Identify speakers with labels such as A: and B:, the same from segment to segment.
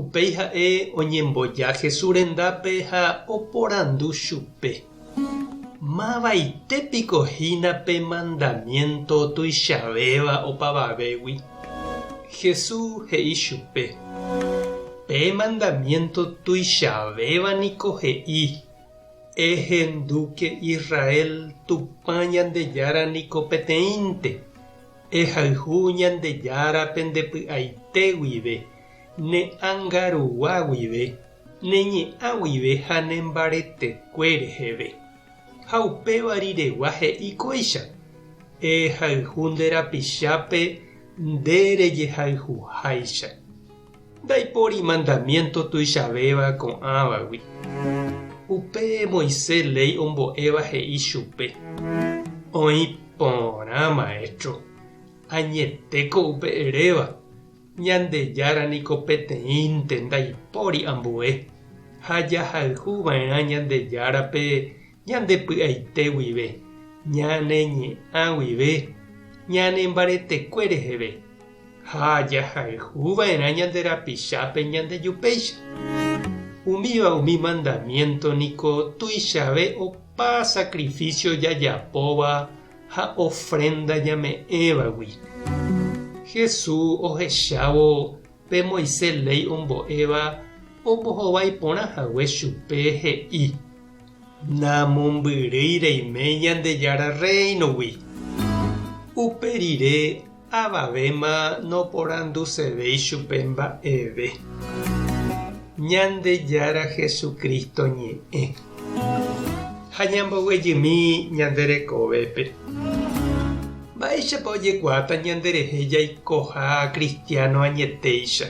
A: Upéi ha'e oñemboja Jesús rendápe ha oporandu chupe, Mavaite piko hína pe mandamiénto tuichavéva opavavégui? Jesús he'i chupe, Pe mandamiénto tuichavéva niko he'i, Ehendúke Israel, Tupã Ñandejára niko peteĩnte, ehayhu Ñandejára pende py'aite guive, ne angarugua guive, ne ñe'ã guive ha ne mbaretekue reheve. Ha upéva riregua he'i kóicha, Ehayhu nde rapichápe nde rejehayhuháicha. Ndaipóri mandamiénto tuichavéva ko'ãvagui. Upe Moisés léi ombo'éva he'i chupe, Oĩ porã, Maéstro, añetéko upe eréva. Ñandejára niko peteĩnte ndaipóri ambue, ha jahayhu va'erã Ñandejárape ñande py'aite guive, ñane ñe'ã guive, ñane mbaretekue reheve, ha jahayhu va'erã ñande rapichápe ñande jupéicha. Umíva umi mandamiénto niko tuichave opa sakrifísio jajapóva ha ofrénda ñame'ẽvagui. Jesús ohechávo pe Moisés léi ombo'éva ombohovái porã hague chupe he'i, Namombyrýi reime Ñandejára Rréinogui. Upe rire Avavéma noporandusevéi chupe mba'eve. Ñandejára Jesucristo ñe'ẽ. Ha ñamboguejymi ñande rekovépe. Mba'éichapa ojekuaáta ñanderehe jaikoha kristiáno añetéicha?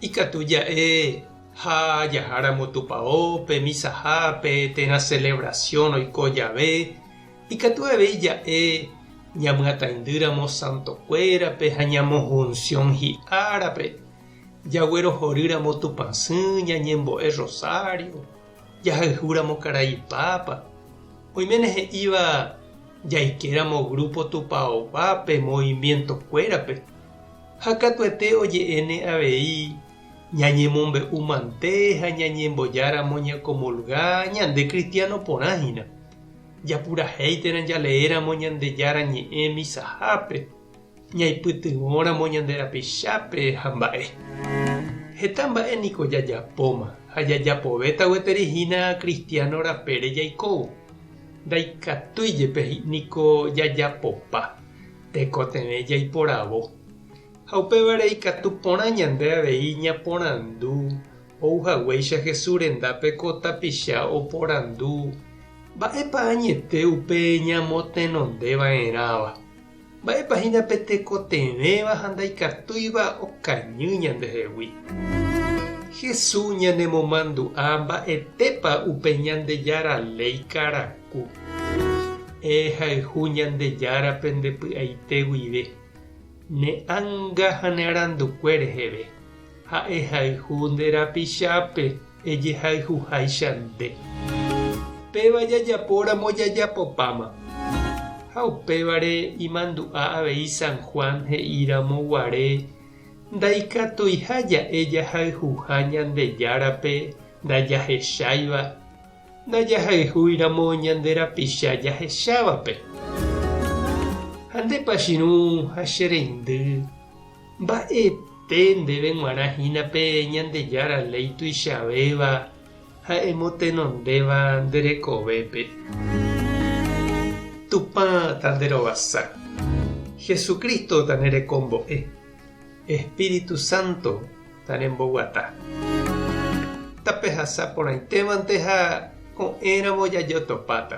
A: Ikatu ja'e ha jaháramo Tupao, pe misahápe, térã celebración oiko jave, Ikatu avei ja'e ñamyataindýramo santokuérape ha ñamohunsión hi'árape, jaguerohorýramo Tupã sỹ, ñañembo'e rrosário, jahayhúramo karai Pápa. Oiméne he'íva jaikéramo grúpo tupaoguápe movimientokuérape, ha katuete oje'éne avei ñañemombe'u mante ha ñañembojáramo ñakomulga ñande kristiano porã hína. Japurahéiterã jaleéramo Ñandejára Ñe'ẽ misahápe, ñaipytyvõramo ñande rapichápe ha mba'e. Heta mba'e niko jajapóma ha jajapovéta gueteri hína kristiáno rapére jaikóvo. Ndaikatúi jepe niko jajapopa, tekotevẽ jaiporavo. Ha upévare ikatu porã ñande avei ñaporandu Ou haguéicha Jesús rendápe ko tapicha oporandu, Mba'épa añete upe ñamotenondeva'erãva? Mba'épa hína pe tekotevẽva ha ndaikatúiva okañy ñandehegui? Jesús ñanemomandu'a mba'etépa upe Ñandejára léi karaku. E hayhu Ñandejára pende py'aite guive, ne ánga ha ne arandukue reheve. Ha'ehayhu nde rapichápe, ejehayhuháicha nde. Péva jajapóramo jajapopáma. Ha upévare imandu'a avei San Juan he'íramo guare, Ndaikatuiha ja'e jahayhuha Ñandejárape ndajahecháiva, ndajahayhúiramo ñande rapicha jahechávape. Ha nde pachirũ ha che reindy. Mba'ete ndéve g̃uarã hína pe Ñandejára léi tuichavéva ha emotenondéva nde rekovépe. Tupã tanderovasa. Jesucristo tanerekombo'e. Espíritu Santo taremboguata. Tapehasa porãitémante ha ko'ẽramo jajotopáta.